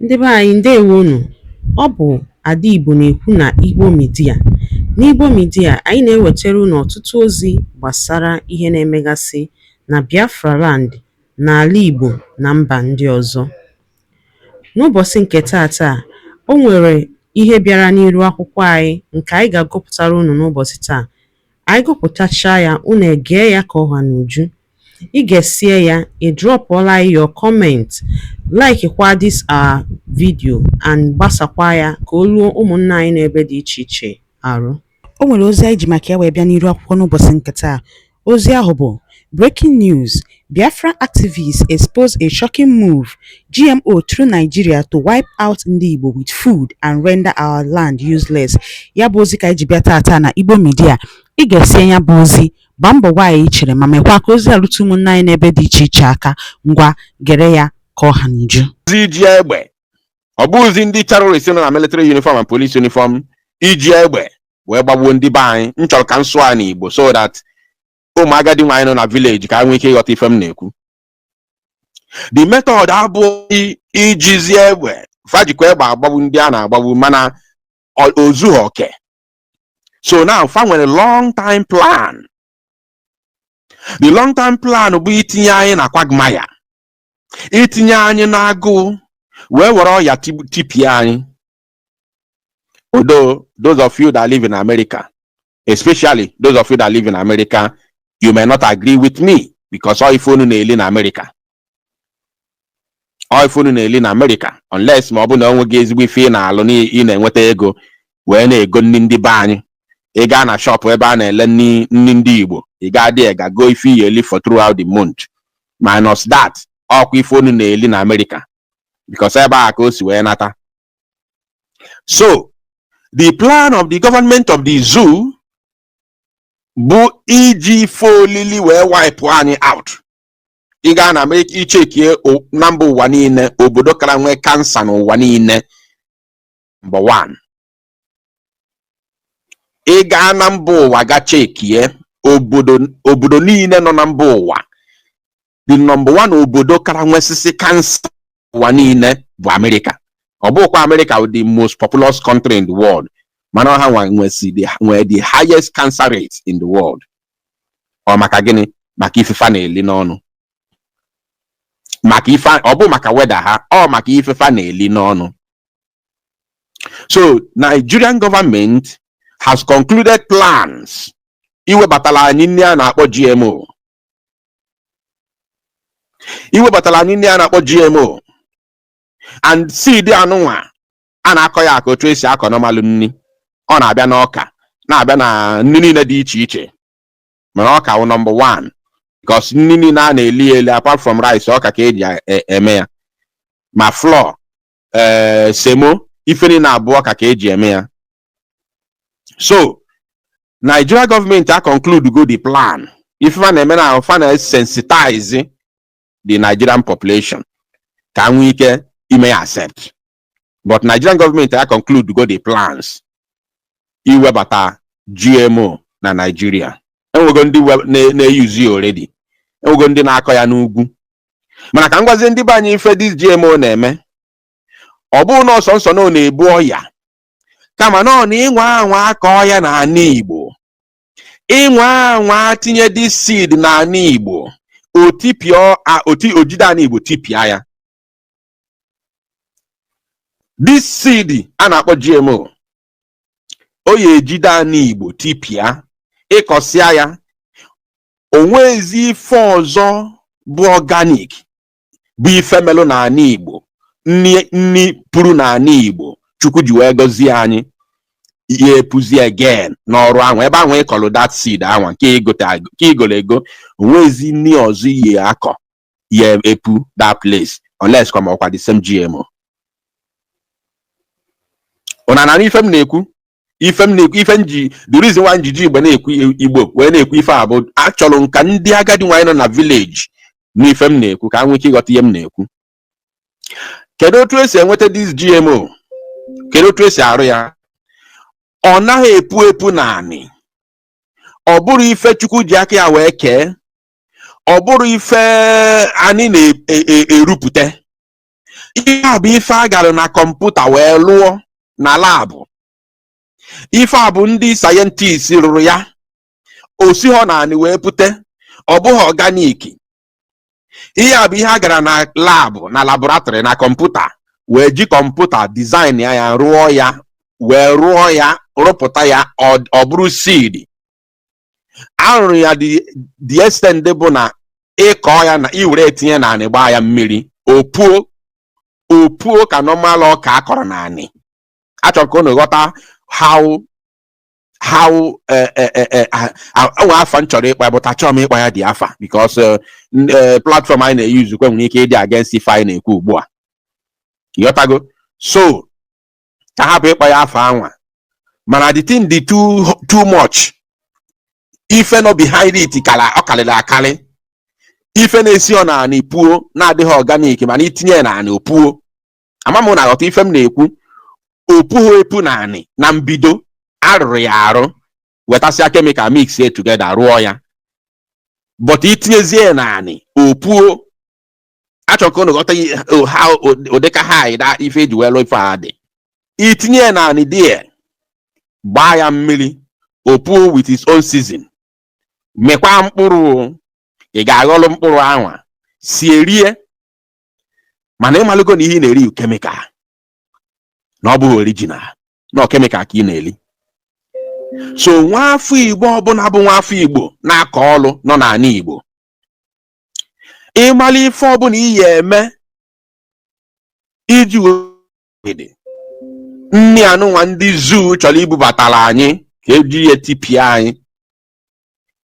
Ndị be anyị ndewo nụ. Ọ bụ Ada Igbo na-ekwu na Igbo Media. N'Igbo Media, anyị na-ewetara unu ọtụtụ ozi gbasara ihe na-emegasị na Biafra land, n'ala Igbo na mba ndị ọzọ. N'ụbọchị nke taata, o nwere ihe bịara n'iru akwụkwọ anyị nke anyị ga-agụpụtara unu n'ụbọchị taa. Anyị gụpụtachaa ya, unu egee ya ka ọ ha n'uju. I gesie ya, ị drọpụọla anyị your comment, laikikwa this our video and gbasakwa ya ka o ruo ụmụnna anyị n'ebe dị iche iche arụ. O nwere ozi anyị ji maka ya wee bịa n'iru akwụkwọ n'ụbọchị nke taa. Ozi ahụ bụ Breaking News, Biafra Activists Expose a Shocking Move, GMO Through Nigeria to Wipe Out Ndị Igbo with Food and Render Our Land Useless. Ya bụ ozi ka anyị ji bịa taata na Igbo Media. I gesie ya bụ ozi Gbaa mbọ gwa anyị chere ma mekwa ka ozi a rute ụmụnna anyị n'ebe dị iche iche aka. Ngwa, gere ya ka ọ ha n'uju. Ozi iji egbe. Ọ bụghịzi ndị terrorist nọ na military uniform and police uniform iji egbe wee gbagbuo ndị be anyị. M chọrọ ka m sụọ ya n'Igbo so that ụmụ agadi nwaanyị nọ na village ka ha nwee ike ịghọta ife m na-ekwu. The method abụghị ijizi egbe fa jikwa egbe agbagbu ndị a na-agbagbu mana o- o zughị oke so now fa nwere long time plan the long time plan bụ itinye anyị na quagmire itinye anyị n'agụụ wee were ọya tib- tipịa anyị although those of you that live in america especially those of you that live in america you may not agree with me because ọ ife unu na-eli na america ọ ife unu na-eli na amerịka unless ma ọ bụ na onwe gị ezigbo ife ị na-alụ na ị na-enweta ego wee na-ego nri ndị be anyị ị gaa na shọpụ ebe a na-ele nri nri ndị igbo ị gaa there ga goo ife ị ya-eli for throughout the month minus that ọkwa ife unu na-eli na amerịka because ebe a ka o si wee nata so the plan of the government of the zoo bụ iji ife olili wee wipe anyị out ị gaa na ichekie na mba ụwa niile obodo kara nwee cancer n'ụwa niile number one ị gaa na mba ụwa ga chekie obodo obodo niile nọ na mba ụwa the number one obodo kara nwesịsị cancer ụwa niile bụ amerịka ọ bụkwa amerịka wụ the most populous country in the world mana ọ ha nwa nwesi the- nwee the highest cancer rate in the world ọ maka gịnị maka ife fa na-eli n'ọnụ maka ife ọ bụ maka weather ha ọ maka ife fa na-eli n'ọnụ so nigerian government has concluded plans iwebatala anyị nri a na-akpọ gmo iwebatara anyị nni a na-akpọ GMO and seed anụnwa a na-akọ ya aka otu esi akọ normal nni ọ na-abịa n'ọka na-abịa na nni niile dị iche iche mana ọka wụ number one because nni niile a na-eli eli apart from rice ọka ka eji e, eme ya ma flour ee eh, semo ife niile a bụ ọka ka eji eme ya so Nigeria government a conclude go the plan ife fa na-eme na fa na-sensitize the Nigerian population ka a nwee ike ime accept but Nigerian government a conclude go the plans iwebata GMO na Nigeria enwego ndị we- na- na-eyuzi ya already enwego ndị na-akọ ya n'ugwu mana ka m gwazie ndị be anyị ife this GMO na-eme ọ bụrọ nọọ sọọsọ na ọ na-ebu ọya kama na ọ na ị nwa anwa akọ ya n'ana Igbo ị nwa anwa tinye this seed n'ana Igbo o tipịa a- o ti o jide ana Igbo tipịa ya this seed a na-akpọ GMO ọ ya-ejide ana igbo tipịa ị kọsịa ya o nwezi ife ọzọ bụ organic bụ ife melụ n'ana igbo nni nni puru n'ana igbo chukwu ji wee gọzie anyị ya-epuzi again n'ọrụ anwa ebe anwa ị kọlụ that seed anwa nke i gota nke i golu ego o nwezi nni ọzọ ị ya-akọ ya-epu that place unless kwa ma ọkwa the same GMO ị na-anụ ife m na-ekwu ife m na-ekwu ife m ji the reason why m ji ji igbo na-ekwu igbo wee na-ekwu ife a bụ achọrọ m ka ndị agadi nwaanyị nọ na village nụ ife m na-ekwu ka ha nwee ike ịghọta ihe m na-ekwu kedu otu esi enweta this GMO kedu otu esi arụ ya ọ naghị epu epu n'anị ọ bụrọ ife chukwu ji aka ya wee kee ọ bụrọ ife anị na-erupụta e, e, ihe a bụ ife a gara na computer wee lụọ na lab ife a bụ ndị scientist rụrụ ya o sighị n'anị wee pụta ọ bụghị organic ihe a bụ ihe a gara na lab na laboratory na computer wee ji computer design ya ya rụọ ya wee rụọ ya rụpụta ya ọ bụrụ seed a rụrụ ya the the extent bụ na ị kọọ ya na i were tinye n'anị gbaa ya mmiri o puo o puo ka normal ọka a kọrọ n'anị achọrọ m ka unu ghọta how how eh, eh, eh, eh, ah, ah, e nwe afa m chọrọ ịkpa but achọọ m ịkpa ya the afa because eh, n- eh, platform anyị na-eyuzu kwe nwere ike ịdị against ife anyị na-ekwu ugbu a ị ghọtago so ka hapụ ịkpọ ya afa anwa mana the thing dị too too much ife nọ behind it kara ọ karịrị akarị ife na-esi ọ na anị puo na-adịghị organic mana i tinye ya na anị o puo ama m na aghọta ife m na-ekwu o pughị epu na anị na mbido a rụrụ ya arụ wetasịa kemikal mix ya together rụọ ya but i tinyezie ya na anị o puo achọrọ m ka unu ghọta ihe- o- ha o- ụdị ka ha anyị da ife eji wee lụọ ife a dị i tinye ya na anị there gbaa ya mmiri o puo with its own season mekwa mkpụrụ ị ga-aghọrọ mkpụrụ anwa sie rie mana ị malụgo na ihe ị na-eri kemikal na ọ bụghị orijinal na ọ kemikal ka ị na-eri so nwa afọ igbo ọbụna bụ nwa afọ igbo na-akọ ọrụ nọ na anị igbo ị mara ife ọbụna ị ya eme iji avoid nni anụnwa ndị zoo chọrọ ibubatara anyị ka eji ya tipịa anyị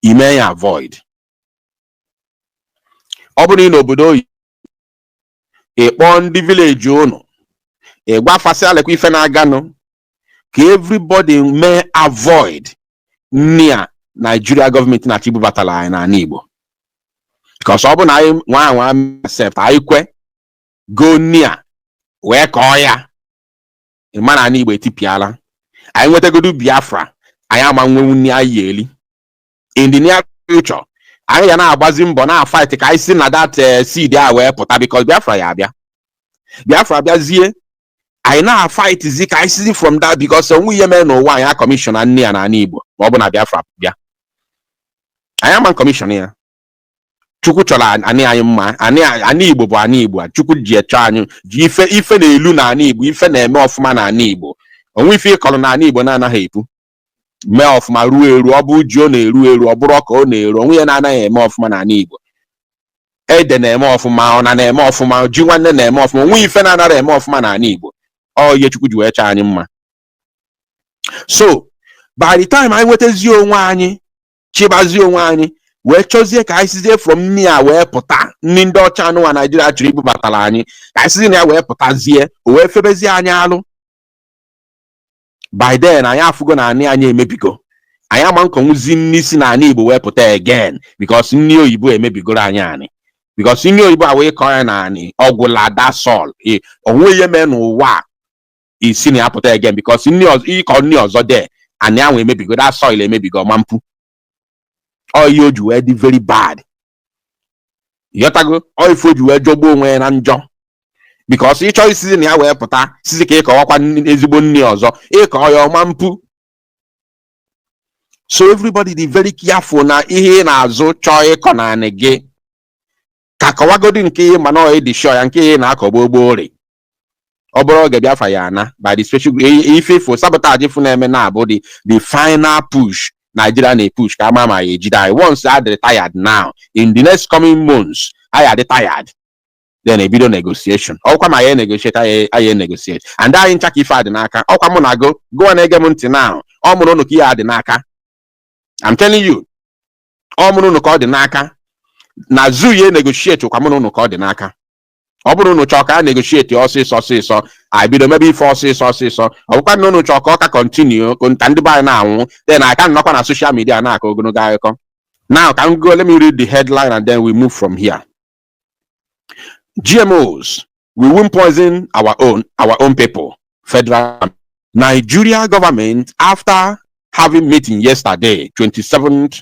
i mee ya avoid ọ bụrụ na ị nọ obodo oyibo ị kpọọ ndị vileji ụnụ ị gwa fa sị alekwa ife na-aganụ ka everybody mee avoid nri a Nigeria gọọmenti na-achọ ibubatara anyị na anị Igbo because ọ bụ na anyị nwaa anwa accept anyị kwe goo nri a wee kọọ ya ị ma na anị Igbo etipịala anyị nwetagodu Biafra anyị ama nwenwu nri anyị eli in the near future anyị ya na-agbazi mbọ na-afaiti ka anyị si na that eh, seed a wee pụta because Biafra ya abịa Biafra abịazie anyị na-afaitizi ka anyị sizi from that because onwe ihe mere n'ụwa anyị akọmishọna nni a n'ala Igbo ma ọ bụ na Biafra bịa anyị ama kọmishọn ya Chukwu chọrọ anị anyị mma anị Igbo bụ anị Igbo a Chukwu ji echọ anyị ji ife ife na-elu na anị Igbo ife na-eme ọfụma na anị Igbo onwe ife ị kọrọ na anị Igbo na-anaghị epu mee ọfụma ruo eru ọ bụ ji ọ na-eru eru ọ bụrụ ọka ọ na-eru onwe ihe na-anaghị eme ọfụma n'ala Igbo ede na-eme ọfụma ọna na-eme ọfụma ji nwannụ na-eme ọfụma onwe ife na-anarọ eme ọfụma n'ala Igbo ọ ihe Chukwu ji wee chọọ anyị mma so by the time anyị nwetazie onwe anyị chịbazie onwe anyị wee chọzie ka anyị sizie from nri a wee pụta nri ndị ọcha anụwa Naijiria chọrọ ibubatara anyị ka anyị sizie na ya wee pụtazie o wee fịabazie anyị alụ by then anyị afụgo na anị anyị emebigo anyị ama nkọnwụzi nri si na anị Igbo wee pụta again because nri oyibo emebigoro anyị anị because nri oyibo a wee kọọ ya na anị ọ gwụla that's all onwe ihe mee n'ụwa i si na ya pụta again because ị kọọ nri ọzọ there anị anwa emebigo that's all emebigo ọ ma mpu ọ ihe o ji wee dị very bad ịghọtago ọ ife o ji wee jọgbuo onwe ya na njọ because ị chọọ season a ya wee pụta season ka ị kọwakwa nni- ezigbo nni ọzọ ị kọọ ya ọ ma mpu so everybody dị very careful na ihe ị na-azụ chọọ ịkọ n'anị gị ka kọwagodi nke ị ma na ọ dị sure nke ihe ị na-akọ gboo gboo rị ọ bụrụ oge Biafra ya ana by the special ife ifo sabotage ife a na-eme now bụ the the final push Nigeria na-epush ka a ma ma a ya ejide anyị once a dị tired now in the next coming months anyị adị tired then ebido negotiation ọkwa ma ya negotiate anyị negotiate and anyị ncha ka ife a dị n'aka ọkwa mụ na gụ gụwa na-ege m ntị now ọ mụ na ụnụ ka ihe a dị n'aka I'm telling you ọ mụ na ụnụ ka ọ dị n'aka na zoo ya negotiate ọkwa mụ na ụnụ ka ọ dị n'aka ọ bụrụ na unu chọọ ka a negotiate ọsịsọ ọsịsọ anyị bido mebe ife ọsịsọ ọsịsọ ọ bụkwa na unu chọọ ka ọ ka continue ka ndị be anyị na-anwụ then a ka nọkwa na social media na-akọ ogologo akụkọ now ka m gụọ let me read the headline and then we move from here GMOs we won't poison our own our own people federal Nigeria government after having meeting yesterday 27th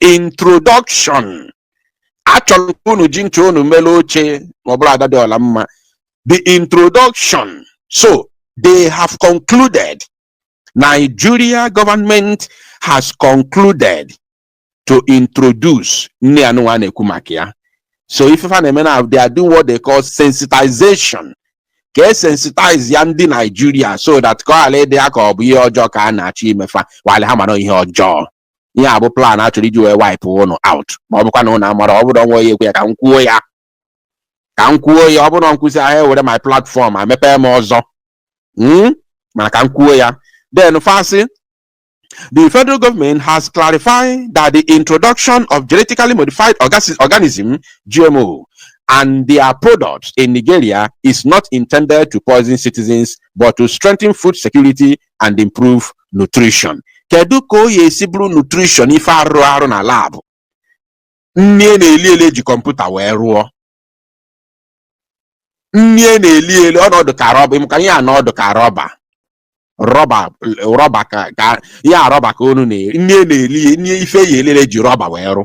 introduction a chọrọ ka unu ji nche unu mere oche ma ọ bụrụ ada dị ọla mma the introduction so they have concluded Nigeria government has concluded to introduce nni anyịnwa na-ekwu maka ya so ife fa na-eme now they are doing what they call sensitization ka e sensitize ya ndị Nigeria so that ka ọ ghara ịdị ya ka ọ bụ ihe ọjọọ ka a na-achọ ime fa while ha mara ihe ọjọọ ihe a bụ plan a chọrọ iji wee wipe ụnụ out ma ọ bụkwa na ụnụ amarọ ọ bụrụ ọnwa onye ekwe ya ka m kwuo ya ka m kwuo ya ọ bụrụ nkwụsị ahụ ewere my platform amepee m ọzọ Mm? mana ka m kwuo ya then fa sị The federal government has clarified that the introduction of genetically modified orgas- organism GMO and their products in Nigeria is not intended to poison citizens but to strengthen food security and improve nutrition kedu ka ọ ya-esi bụrụ nutrition ife a rụrụ arụ na lab nni a na-eli eli e ji kọmputa wee rụọ nni a na-eli eli ọ na-adụ ka rọba ị ma ka ihe a na-adụ ka rọba rọba rọba ka ka ihe a rọba ka unu na-eri nri a na-eli nri ife a ya-eli eli e ji rọba wee rụ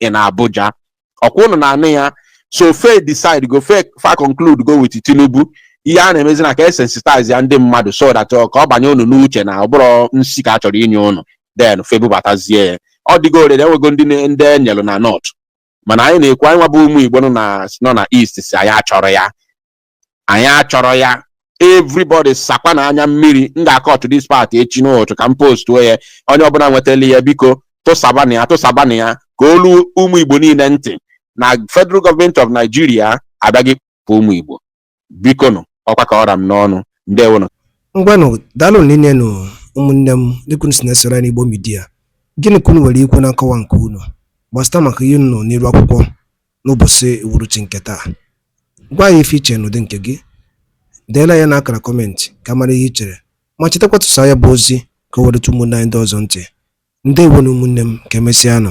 in Abuja ọkwa ụnụ na-anụ ya so fe decide go fe fa conclude go with Tinubu ihe a na-emezi na ka e sensitize ya ndị mmadụ so that ọ- ka ọ banye ụnụ n'uche na ọ bụrọ nsi ka a chọrọ inye ụnụ then fe bubatazie ya ọ dịgo already e nwego ndị ne- ndị e nyelu na north mana anyị na-ekwu anyịnwa bụ ụmụ Igbo nọ na nọ na east sị anyị achọrọ ya anyị achọrọ ya everybody sakwa na anya mmiri m ga-acut this part echi n'ụtụtụ ka m postuo ya onye ọbụla nwetara ya biko tụsabanụ ya tụsabanụ ya ka o lu ụmụ igbo niile ntị na federal government of nigeria abịaghị kpọ ụmụ igbo biko nụ ọ kwa ka ọ ra m n'ọnụ ndewonụ ngwanụ daalụ niile nụ ụmụnne m dịka unu si na-esoro anyị n'igbo midia gịnị ka unu nwere ikwu na nkọwa nke unu gbasata maka ihe unu nọ n'iru akwụkwọ n'ụbọchị uhuruchi nke taa. Gwa anyị ife i che n'ụdị nke gị. Deela ya n'akara kọmentị ka a mara ihe i chere ma chetakwa tụsaa ya bụ ozi ka o wee rute ụmụnne anyị ndị ọzọ ntị. Ndewonu ụmụnne m ka emesịanụ.